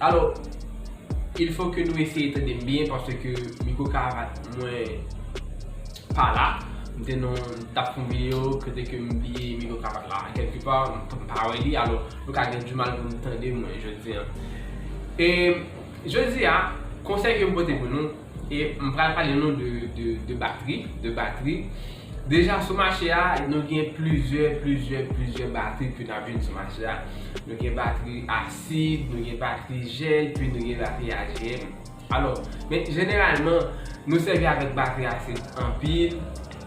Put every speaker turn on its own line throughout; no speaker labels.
Alo, il fo ke nou eseye tande m byen paske ke mikwo karavate mwen pa la. M te nan, m t ap fè yon video kote ke m bliye mikwo karavate la kèlke pa, m pa wè li alo nou ka gen dimal pou nou tande mwen jodi an. E jodi a, konsèy ke m pote pou nou. E m pral pale nou de batri, de batri. Deja sou mache a, nou gen plizyè, plizyè, plizyè batri ki nan vin sou mache a. Nou gen batri asid, nou gen batri jèl, pi nou gen batri AGM. Alò, men jeneralman, nou sèvi avèk batri asid anpil,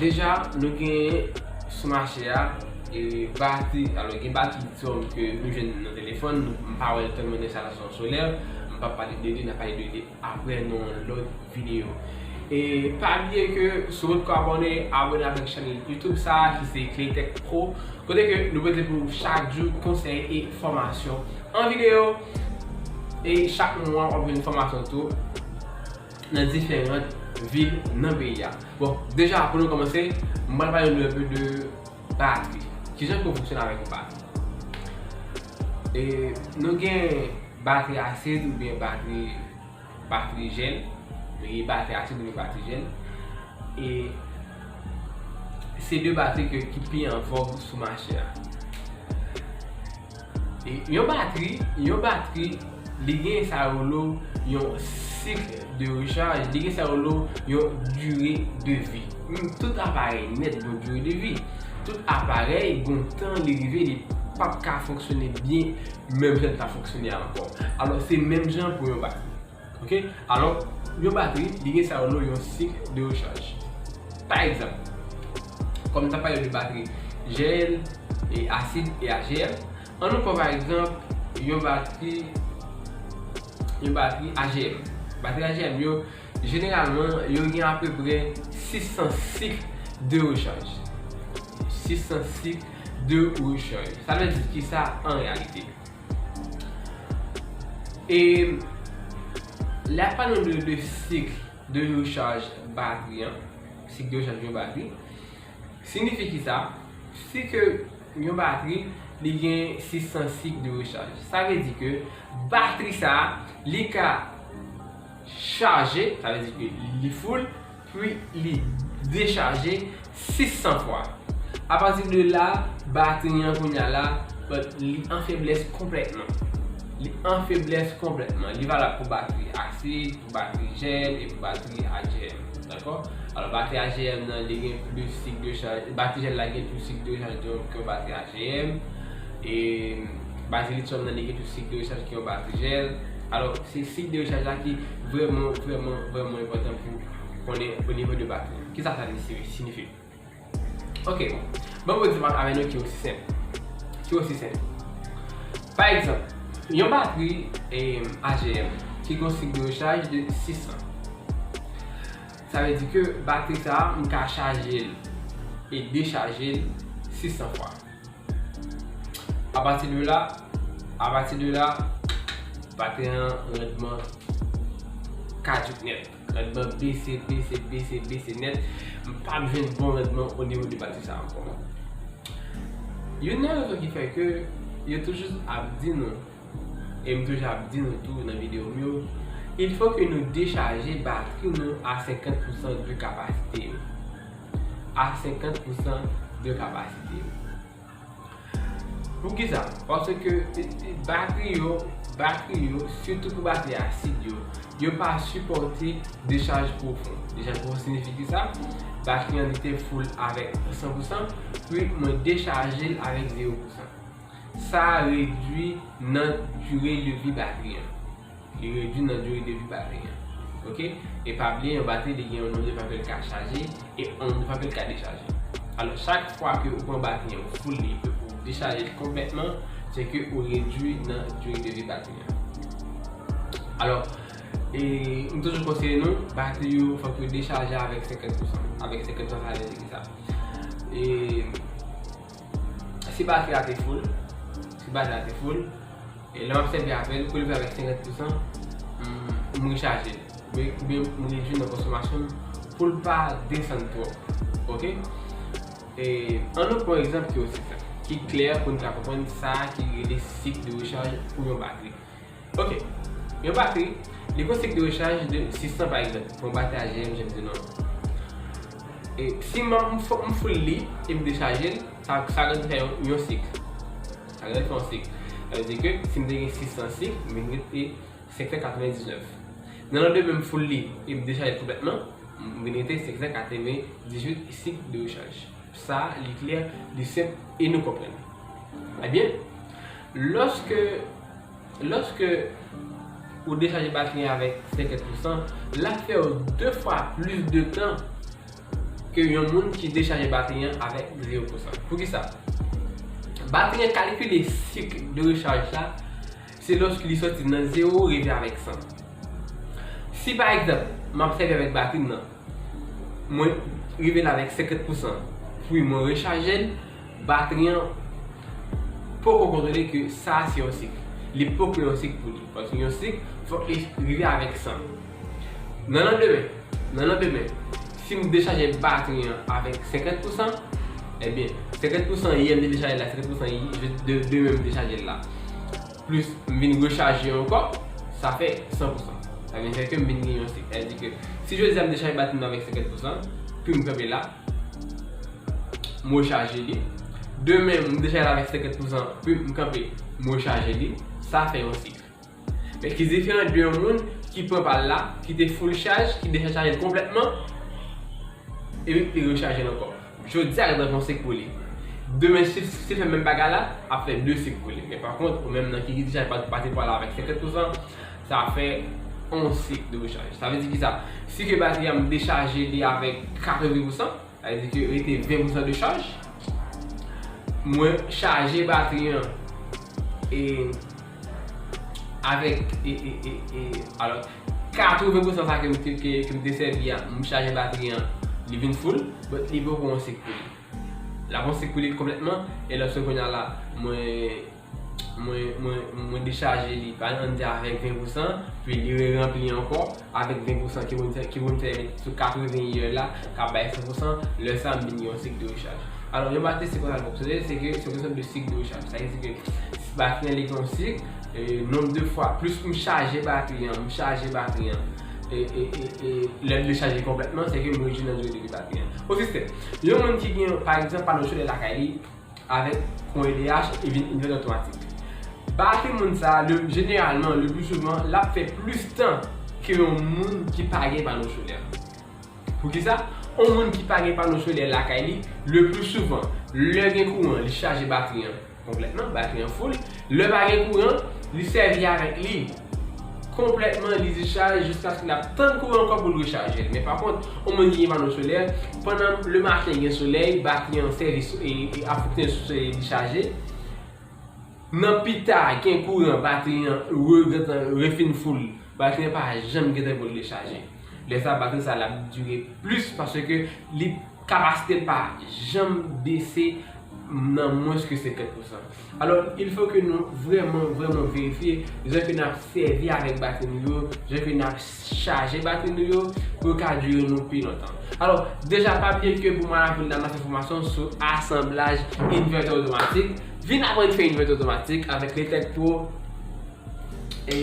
Deja nou gen sou mache a bati, alò gen bati lityòm ke nou jwenn nan telefòn, m pa wèl tèlman nan enstalasyon solè, m pap pale de li, n ap pale de li aprè nan yon lòt videyo. E pa bliye ke si w potko abòne, abòne avèk chènèl YouTube sa a ki se Claytech Pro, kote ke nou pote pou ou chak jou konsèy e fòmasyon an videyo e chak mwa w ap jwenn fòmasyon tou. nan diferant vil nan peyi a. Bon, deja pou nou kòmanse, m pral pale nou enpe de batri. Kijan pou fonksyone avèk yon batri? E, nou gen batri asid oubyen batri, batri jèl. Nou gen batri asid oubyen batri jèl. E, se de batri ke ki pi an vòg sou mache a. Yon batri, yon batri li gen sa yo rele w yon cycle de recharge, li gen sa yo rele w yon durée de vie. Tout aparèy nèt gen yon durée de vie. Tout aparèy gen yon tan li rive li pap ka fonksyone byen menm jan li ta fonksyone ankò. Alò se menm jan pou yon batri. Ok alò yon batri li gen sa yo rele yon sik de rechaj pa egzanp kòm nou ta pale de batri Gn e asid e Agl an nou pran pa egzanp yon batri yon batri Agm batri Agm yo jeneralman yo gen apeprè 600 sik de rechaj 600 sik de rechaj sa vle di kisa an reyalite E lè ap pale nou de sik de rechaj batri an, sik de rechaj yon batri, signifi ki sa? Si ke yon batri li gen 600 sik de rechaj, sa vle di ke batri sa li ka chaje, sa vle di ke li full, Pwi li dechaje 600 fwa. Apati de la, batri an kounya la, li an feblès konplètman. Li an feblès konplètman. Li valab pou batri asid, pou batri jèl, e pou batri AGM. Dakò? Alò, batri AGM nan, li gen plis sik de chaj, batri jèl la gen plis sik de chaj ke yon batri AGM. E, batri lityòm nan, li gen plis sik de chaj ke yon batri jèl. Alò, se sik de chaj la ki. Vrèman, vrèman, vrèman enpòtan pou konnen o nivo de baz nou. Kisa sa vle sinifi? Ok, banm yon egzanp avè nou ki osi senp. Ki osi senp. Pa egzanp, yon batri AGM ki gon sik de rechaj de 6 an. Sa vle di ke batri sa a m ka chaje l e dechaje l 600 fwa. A pati de la, a pati de la, maten an randman kaduc nèt. Randman bese, bese, bese, bese nèt. M pa p jwenn bon randman o nivo de pati sa ankò. Youn nan rezon ki fè ke yo toujou ap di nou. e m toujou ap di nou tou nan videyo m yo, il fo ke nou dechaje batri nou a 50 pousan de kapasite yo. A 50 pousan de kapasite yo. Poukisa? Paske batri yo, batri yo, sitou pou batri asid yo, yo pa sipòte dechaj pwofon. Dechaj pwofon siyifi ki sa? Batri an li te full avèk 100 pousan, pi mwen dechaje l avèk 0 pousan. Sa redwi nan dure de vi batri an. Li redwi nan dure de vi batri an. Ok. E pa bliye yon batri li gen yon nonm de fwa ke li ka chaje e yon nonm de fwa ke li ka dechaje. Alò chak fwa ke ou pran batri an ou full li epi ou dechaje li konplètman, se ke ou redwi nan dure de vi batri an. Alò, e m toujou konseye nou, batri yo fòk yo dechaje avèk 50 pousan. Avèk 50 pousan sa vle di kisa? E. Si batri a te full, si batri a te full, e lè wap sèvi avèl, kou li vin avèk 50 pousan, m rechaje li, oubyen m redwi nan konsomasyon l, pou l pa desann twòp, ok. E, an nou pran egzanp ki osi senp, ki klè pou n ka konprann sa ki rele sik de rechaj pou yon batri. Ok. Yon batri, li pran sik de rechaj de 600 pa egzanp. Bon batri a GM janm di non. E si man m fòk m foul li e m dechaje l, sa sa gen fè yon sik. Sa gen fè yon sik. Sa vle di ke si m te gen 600 sik, m vin rete 599. Nan landemen m foul li e m dechaje l konplètman, m vin rete 588 sik de rechaj. Sa li klè, li senp e nou konprann. Ebyen. Lòske Lòske ou dechaje batri an avèk 50 pousan, l ap fè w 2 fwa plis de tan ke yon moun ki dechaje batri an avèk 0 pousan. Poukisa? Batri an kalkile sik de rechaj la se lòske li sòti nan 0 rive avèk 100. Si pa egzanp, m ap sèvi avèk batri m nan, mwen rive la avèk 50 pousan, pi mwen rechaje l, Batri an poko kontwole ke sa a se yon sik. Li poko yon sik pou li. Paske yon sik fòk li rive avèk san. Nan landemen, nan landemen, si m dechaje batri an avèk 50 pousan, ebyen, 50 pousan yè m te dechaje l la, 50 pousan demen m dechaje l la, plis m vin rechaje ankò, sa fè 100 pousan. Sa vin fè ke m vin gen yon sik. Sa vle di ke si jodi a m dechaje batri m nan avèk 50 pousan, pi m kanpe la, m rechaje li. Demen m deja la avèk 50 pou san pu m kanpe m rechaje li. Sa fè yon sik. Men ki diferan de yon moun ki pran pa l la, ki te full chaj, ki deja chaje l konplètman, epi li rechaje l ankò. Jodi a li pral fè yon sik pou li. Demen si l fè menm bagay la, ap fè 2 sik pou li. Men pa kont ou menm nan ki deja pa te pran la avèk 50 pou san, sa fè 11 sik de rechaj. Sa vle di ki sa? Si ke batri a m dechaje li avèk 80 pousan, sa vle di ke rete 20 pousan de chaj, mwen chaje batri an e avèk e e e e alò 80 pousan sa ke m te ke m te sèvi a, m chaje batri an, li vin full, but li poko 11 sik pou li. L ap 11 sik pou li konplètman, e lòske kounye a la mwen. Mwen dechaje li pa nan di avèk 20 pousan, pi li re ranpli ankò avèk 20 pousan ki pou m fè sou 80 yè la ka bay 100 pousan, lè sa m vin gen yon sik de rechaj. Alò yon batri se konsa l fonksyone, se ke se yon sòt de sik de rechaj. Sa vle di ke batri an li gen yon sik, nonb de fwa, plis m chaje batri an, m chaje batri an, e lè l dechaje konplètman se ke m rejwenn anjou de batri an. Pou sistèm, yon moun ki gen, pa egzanp, pano solè lakay li, Avèk kon edh li vin ouvè lòt pratik. Bake moun sa le jeneralman le plus souvent lap fè plus tan ke yon moun ki pa gen pano solè. Poukisa? On moun ki pa gen pano solè lakay li le plus souvent lè gen kouran li chaje batri an konplètman, batri an full, lè pa gen kouran li sèvi avèk li. konplètman li discharge jiskaske lap tann kouran ankò poul rechaje l men pa kont yon moun ki gen pano solè pandan le maten gen solèy batri an sèvi ap fonksyone sou solèy li discharge nan pita gen kouran batri an regentan refin full batri an pa janm gentan pou l rechaje lè sa batri sa lap dire plis paske li kapasite l pa janm bese nan mwens ke 50 pousan. Alò, il fò ke nou vrèman, vrèman verifye jan ke n ap sèvi avèk batri nou yo, jan ke n ap chaje batri nou yo, pou yo ka dire nou pi lontan. Alò, deja pa bliye ke pou Maravi ou ta nan fè fòmasyon sou asanblaj invètè otomatik, vin aprann fè invètè otomatik avèk Letec Pro e.